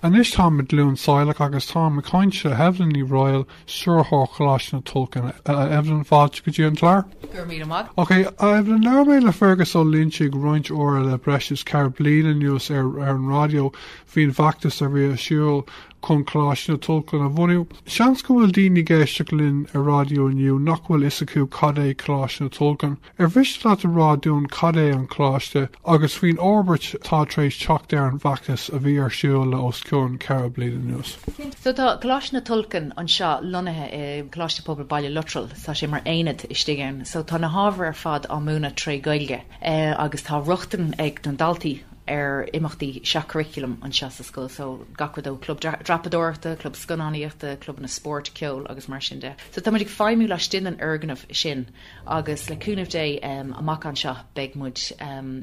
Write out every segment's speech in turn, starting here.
Anois táim i gCluain Saileach agus táim ag caint le hEvelyn Ní Raghaill, Stiúrthóir Choláiste na Tulchann. Evelyn, fáilte go dtí an clár. Go raibh míle maith. Ok, Evelyn, labhair mé le Fergus Ó Loinsigh roinnt uaire le breis is ceithre bliain anuas ar an raidió faoin bhfeachtas a bhí ar siúl chun Coláiste na Tulchann a bhunú. Seans go bhfuil daoine ag éisteacht linn ar raidió inniu nach bhfuil fhios acu cad é Coláiste na Tulchann. Ar mhiste leat a rá dúinn cad é an Coláiste agus faoin fhorbairt atá tar éis teacht ar an bhfeachtas a bhí ar siúl le os cionn ceithre bliain anuas? So tá Coláiste na Tulchann anseo lonnaithe i Coláiste Pobail Baile Lotrail. Tá sé mar aonad istigh ann. So tá na hábhair ar fad á múineadh tré Gaeilge agus tá rochtain ag na daltaí ar imeachtaí seach-churaclaim anseo sa scoil. So gach rud ó club dreapadóireachta, club scannánaíochta, clubanna spóirt, ceoil agus mar sin de. So táimid ag feidhmiú laistigh den fhoirgneamh sin. Agus le cúnamh Dé, amach anseo beidh muid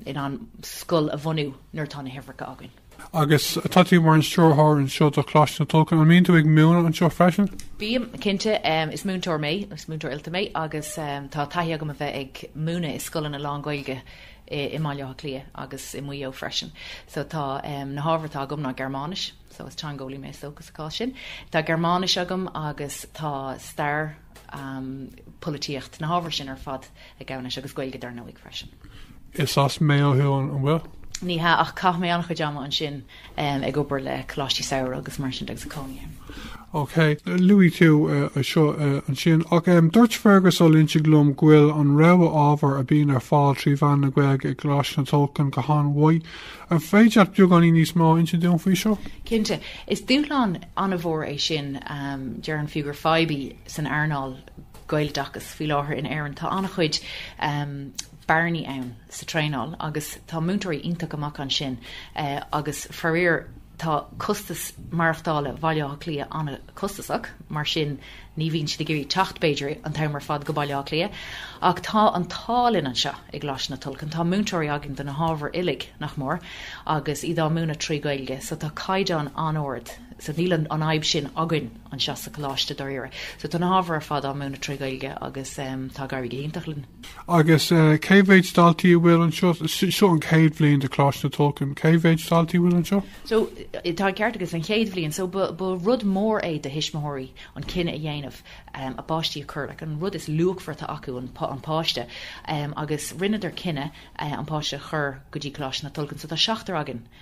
in ann scoil a bhunú nuair atá na huimhreacha againn. Agus tá tú mar an stiúrthóir anseo do Choláiste na Tulchann, an mbíonn tú ag múineadh anseo freisin? Bím, cinnte. Is múinteoir mé, is múinteoir oilte mé, agus tá taithí agam a bheith ag múineadh i scoileanna lán-Ghaeilge i mBaile Átha Cliath agus i Maigh Eo freisin. So tá na hábhair atá agam ná Gearmáinis, so is teangeolaí mé sa chás sin. Tá Gearmáinis agam agus tá stair. polaitíocht na hábhair sin ar fad ag gabhann leis agus Gaeilge dar ndóigh freisin. Is as Maigh Eo thú an bhfuil? Ní hea ach caith mé an-chuid ama ansin ag obair le Coláistí Samhraidh agus mar sin agus cónaí. Ok, luaigh tú eh, seo eh, ansin ach dúirt Fergus Ó Loinsigh liom go bhfuil an rogha ábhar a bíonn ar fáil trí mheán na Gaeilge i gColáiste na Tulchann go han-mhaith An féidir leat beagáinín níos mó a insint dúinn faoi seo? Cinnte. Is dúshlán an-mhór é sin. Déarfainn fiú gur fadhb í san earnáil Gaeloideachais faoi láthair in Éirinn. Tá an-chuid bearnaí ann sa traenáil agus tá múinteoirí iontach amach ansin agus faraor tá costas maireachtála Bhaile Átha Cliath an-chostasach, mar sin Ní bhíonn siad ag iarraidh teacht, b'fhéidir, an t-am ar fad go Baile Átha Cliath, ach tá an t-ádh linn anseo i gColáiste na Tulchann, tá múinteoirí againn do na hábhair uilig, nach mór, agus iad á múineadh trí Ghaeilge, so tá caighdeán an-ard, so níl an, an fhadhb sin againn anseo sa coláiste, dáiríre. So tá na hábhair ar fad á múineadh trí Ghaeilge agus em tá ag éirí go hiontach linn. Agus cé mhéid daltaí a bhfuil anseo? Seo an chéad bhliain de Choláiste na Tulchann. Cé mhéid daltaí a bhfuil anseo? So, tá an ceart agat, is an chéad bhliain. So, ba rud mór é do thuismitheoirí an cinneadh a dhéanamh a bpáistí a chur, like, an rud is luachmharta acu, an páiste. Agus rinneadar cinneadh an páiste a chur go dtí Coláiste na Tulchann. So, tá seachtar againn.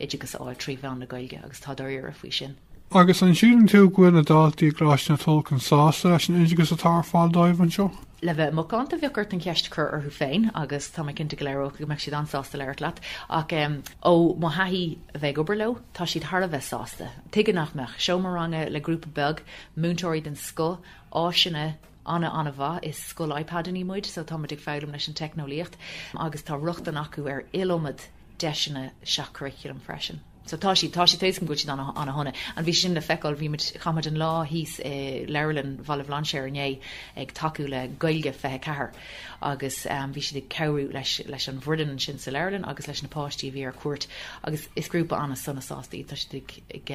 oideachas a fháil trí mheán na Gaeilge agus tá dáiríre faoi sin. Agus an síleann tú go bhfuil na daltaí i gColáiste na Tulchann sásta leis an oideachas atá ar fáil dóibh anseo? Le bheith macánta bheadh ort an cheist a chur orthu féin agus tá mé cinnte go léireodh go mbeadh siad an-sásta labhairt leat. Ach ó mo thaithí a bheith ag obair leo, tá siad thar a bheith sásta. Tuige nach mbeadh seomra ranga le grúpa beag múinteoirí den scoth, áiseanna an- an-mhaith, is scoil iPadannaí muid so tá muid ag foghlaim leis an teicneolaíocht agus tá rochtain acu ar iliomad deiseanna seach-churaclaim freisin. So tá siad, tá siad, déarfainn go bhfuil siad ana, ana shona. An bhí sin le feiceáil, bhí muid, chaith muid an lá thíos i Leabharlann Bhaile Bhlainséir inné ag tacú le Gaeilge 24 agus bhí siad ag cabhrú leis, leis an bhfoireann ansin sa leabharlann agus leis na páistí a bhí ar cuairt agus is grúpa ana sona sásta iad, tá siad ag, ag,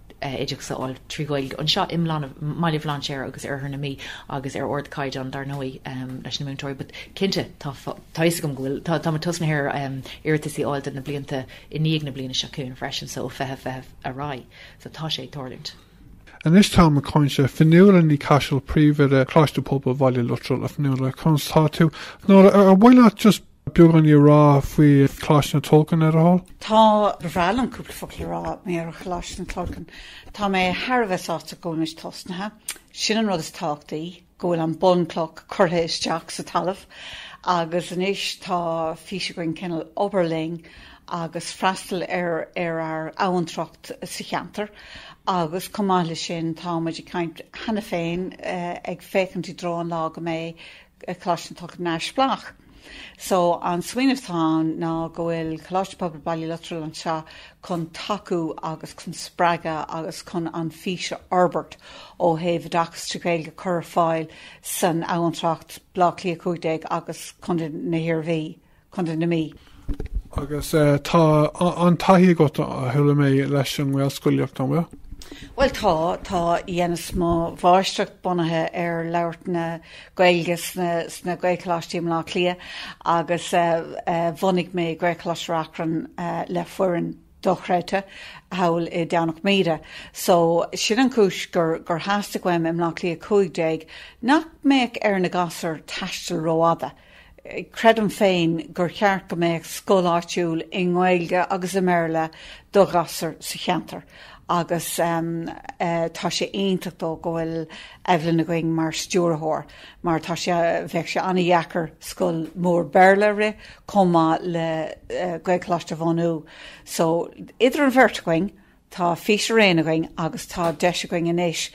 oideachas a fháil trí Ghaeilge anseo i mBaile Bhlainséir agus Oirthear na Mí agus ar ardchaighdeán, dar ndóigh, leis na múinteoirí. But, cinnte, tá fhios agam go bhfuil, tá, táim ag tosnú ar iarratais a fháil do na blianta i ndiaidh na bliana seo chugainn freisin, so, ó fiche fiche ar aghaidh. So, tá sé ag tarlúint. Anois táim ag caint le Fionnuala Ní Chaisil, Príomhoide, Coláiste Pobail Bhaile Luttrell, a Fhionnuala, conas atá tú? Fionnuala, ar mhaith leat just, Beagáinín a rá faoi Choláiste na Tulchann le do thoil. Tá, ba bhreá liom cúpla focal a rá mar gheall ar Choláiste na Tulchann. Tá mé thar a bheith sásta go bhfuil muid tosnaithe. Sin an rud is tábhachtaí, go bhfuil an bunchloch curtha isteach sa talamh agus anois tá fís againn cineál obair linn agus freastal ar ar ár abhantracht sa cheantar agus chomh maith leis sin tá muid ag caint cheana féin ag féachaint i dtreo an lá go mbeidh Coláiste na Tulchann neamhspleách. So an smaoineamh atá ann ná go bhfuil Coláiste Pobail Baile Luttrell anseo chun tacú agus chun spreagadh agus chun an fís a fhorbairt ó thaobh oideachas trí Ghaeilge cur ar fáil san abhantracht, Bleá Cliath 15 agus Contae na hIarmhí. Contae na Mí. Agus tá an-taithí agat, a chuala mé, leis an nGaelscolaíocht, an bhfuil? Bhuel tá, tá dhéanas mo mháistreacht bunaithe ar labhairt na Gaeilge sna Gaelcholáistí i mBleá Cliath agus bhunaigh mé Gaelcholáiste Reachrann le foireann dochreidte thall i nDomhnach Míde. So sin an chúis gur theastaigh uaim i mBleá Cliath 15 nach mbeadh ar na gasúir taisteal rófhada. Creidim féin gur cheart go mbeadh scoil áitiúil i nGaeilge agus i mBéarla do ghasúir sa cheantar agus tá sé iontach go deo go bhfuil Evelyn againn mar stiúrthóir mar tá sé, bheadh sé an-deacair scoil mór Béarla a rith chomh maith le Gaelcholáiste a bhunú so idir an bheirt againn Tá fís araon againn agus tá deis againn anois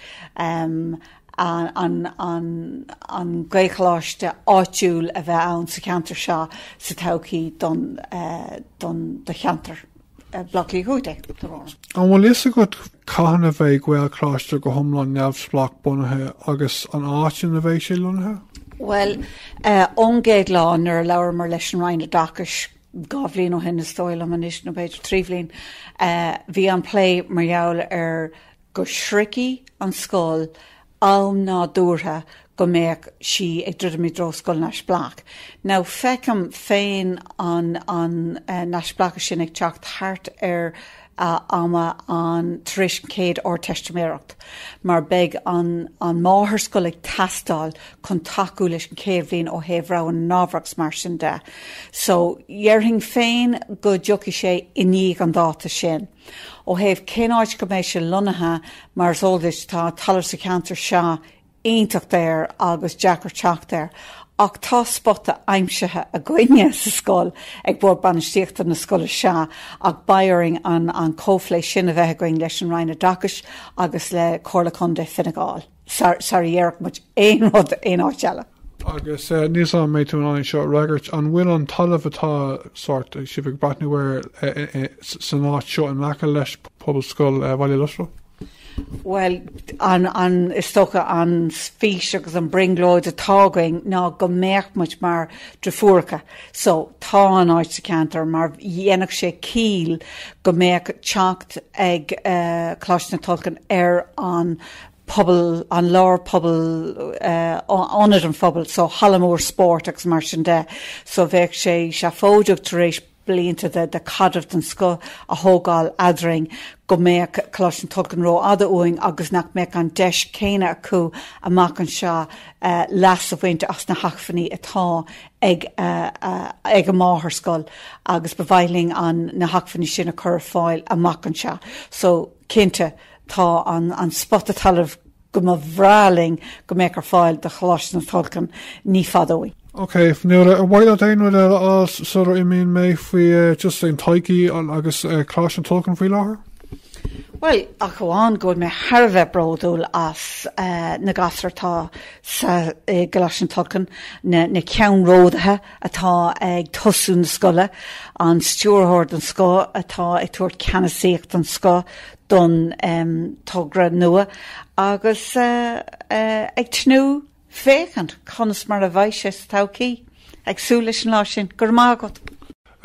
an Gaelcholáiste áitiúil a bheith ann sa cheantar seo sa todhchaí don do cheantar Bhaile Átha Cliath cúig déag. An bhfuil fhios agat cathain a bheidh Gaelcholáiste go hiomlán neamhspleách bunaithe agus an áit ina bheidh sé lonnaithe? Bhuel, ón gcéad lá nuair a labhraíomar leis an Roinn Oideachais Dhá bhliain ó shin, is dóigh liom anois, nó b'fhéidir trí bhliain, bhí an plé mar gheall ar go sroichfidh an scoil am nádúrtha go mbeadh sí ag druidim i dtreo scoil neamhspleách. Now, feicim féin an neamhspleáchas sin ag teacht thart ar a ama an tar éis an chéad Ardteistiméireacht mar beidh an an máthairscoil ag teastáil chun tacú leis an chéad bhliain ó thaobh rogha na n-ábhar agus mar sin de. So dhéarfainn féin go dtiocfaidh sé i ndiaidh an dáta sin. Ó thaobh cén áit go mbeidh sé lonnaithe, mar is eol duit, tá talamh sa cheantar seo iontach daor agus deacair teacht air ach tá spota aimsithe againne sa scoil ag Bord Bainistíochta na scoile sea ach b'fhearr linn an comhphlé sin a bheith againn leis an Roinn Oideachais agus le Comhairle Contae Fine Gall sara dhéarfadh muid aon rud aon áit eile. Agus níl a fhios agam an mbeidh tú in ann seo a fhreagairt, an bhfuil an talamh atá sórt, sibh ag breathnú air, san áit seo in aice leis Pobalscoil Bhaile Lotrail? Bhuel, is dócha an fís agus an brionglóid atá againn ná go mbeadh muid mar dhrifúracha. So, tá an áit sa cheantar mar dhéanfadh sé ciall go mbeadh teacht ag Coláiste na Tulchann ar an bpobal, an lár pobal, ionad an phobail, so halla mór spóirt agus mar sin de. So bheadh sé seafóideach tar éis blianta de chaidreamh den scoth a thógáil eadrainn, go mbeadh Coláiste na Tulchann rófhada uainn agus nach mbeadh an deis chéanna acu amach anseo leas a bhaint as na hacmhainní atá ag a máthairscoil agus ba mhaith linn na hacmhainní sin a chur ar fáil amach anseo. So, cinnte, tá an spota talaimh go mba bhreá linn go mbeadh ar fáil do Choláiste na Tulchann ní fada uainn. Ok, now ar mhaith leat aon rud eile a fháil sular imíonn mé faoi just an todhchaí agus Coláiste na Tulchann faoi láthair? Bhuel, ach amháin go bhfuil mé thar a bheith bródúil as na gasúir atá sa i gColáiste na Tulchann, na na ceannródaithe atá ag tosú na scoile, an stiúrthóir den scoth atá ag tabhairt ceannasaíocht den scoth, don togra nua agus ag tnúth féachaint conas mar a bheidh sé sa todhchaí. Ag súil leis an lá sin. Go raibh maith agat.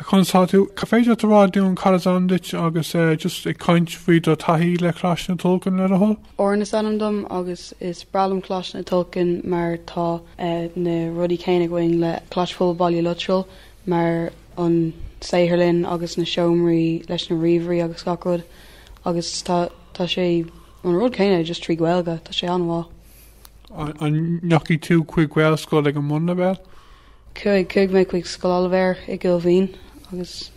Conas atá tú? An féidir leat a rá dúinn cad is ainm duit agus just ag caint faoi do taithí le Coláiste na Tulchann le do thoil? Oran is ainm dom agus is breá liom Coláiste na Tulchann mar tá na rudaí céanna againn le Coláiste Pobail Baile Lotrail mar an saotharlann agus na seomraí leis na ríomhairí agus gach rud agus tá sé an rud céanna just trí Gaeilge, tá sé an-mhaith. An ndeachaigh tú chuig Gaelscoil ag an mbunleibhéal? Chuaigh, chuaigh mé chuig Scoil Oilibhéir i gCúil Mhín agus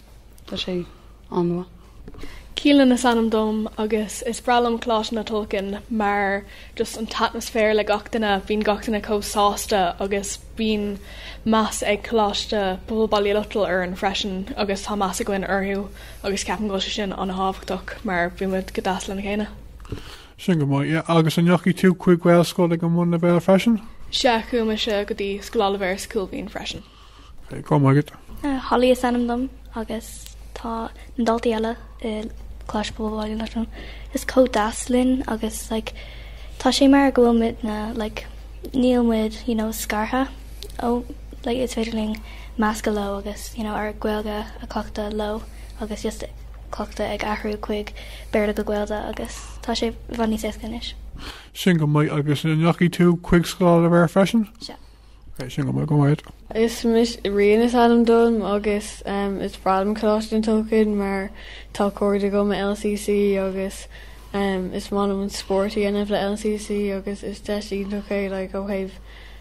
tá sé an-mhaith. Keelan is ainm dom agus is breá liom Coláiste na Tulchann mar just an t-atmaisféar le gach duine, bíonn gach duine chomh sásta agus bíonn meas ag Coláiste Pobail Baile Lotrail orainn freisin agus tá meas againn orthu agus ceapaim go bhfuil sé sin an-tábhachtach mar bímid go deas lena chéile. Sin go maith. Yeah. Agus an ndeachaigh tú chuig Gaelscoil ag an mbunleibhéal freisin? Sea, chuaigh mise go dtí Scoil Oilibhéir sa Cúil Mhín freisin. Go maith agat. Holly is ainm dom agus tá na daltaí eile i gColáiste Pobail Baile Lotrail chomh deas linn agus like tá sé mar go bhfuil muid na like níl muid you know scartha ó like is féidir linn meascadh leo agus you know ár Gaeilge a cleachtadh leo agus just cleachtadh ag athrú chuig Béarla go Gaeilge agus tá sé i bhfad níos éasca anois. Sin go maith agus an ndeachaigh tú chuig Scoil Oilibhéir freisin? Sea. Bhí sin liom agam air. Rian is ainm dom agus is breá liom Coláiste na Tulchann mar tá cairde agam i LCC agus is maith liom an spórt a dhéanamh le LCC agus is deis iontach é like ó thaobh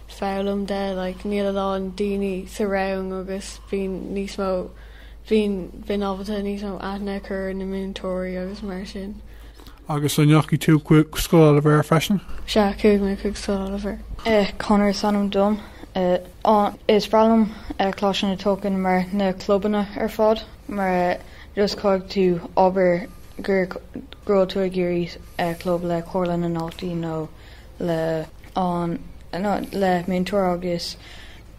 foghlaim de like níl a lán daoine sa rang agus bíonn níos mó bíonn bím ábalta níos mó aithne a chur ar na múinteoirí agus mar sin. Agus an ndeachaigh tú chuig Scoil Oilibhéir freisin? Sea, chuaigh mé chuig Scoil Oilibhéir. Conor is ainm dom. Is breá liom Coláiste na Tulchann mar na clubanna ar fad mar just caithfidh tú abair go raibh tú ag iarraidh club le Comhairle na nDaltaí nó le an nó le múinteoir agus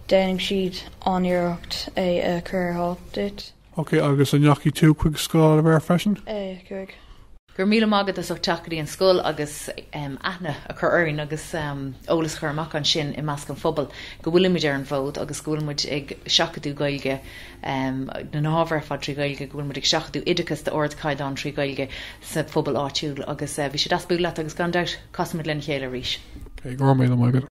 déanfaidh siad an-iarracht é a chur ar fáil duit. Ok agus an ndeachaigh tú chuig Scoil Oilibhéir freisin? Eh chuaigh. Go raibh míle maith agat as ucht teacht go dtí an scoil agus aithne a chur orainn agus eolas a chur amach ansin i measc an phobail go bhfuilimid ar an bhfód agus go bhfuil muid ag seachadadh Gaeilge nó na hábhair ar fad trí Ghaeilge, go bhfuil muid ag seachadadh oideachas d'ardchaighdeán trí Ghaeilge sa phobal áitiúil agus bhí sé deas bualadh leat agus gan dabht casfaimid lena chéile arís. Ok, go raibh míle maith agat.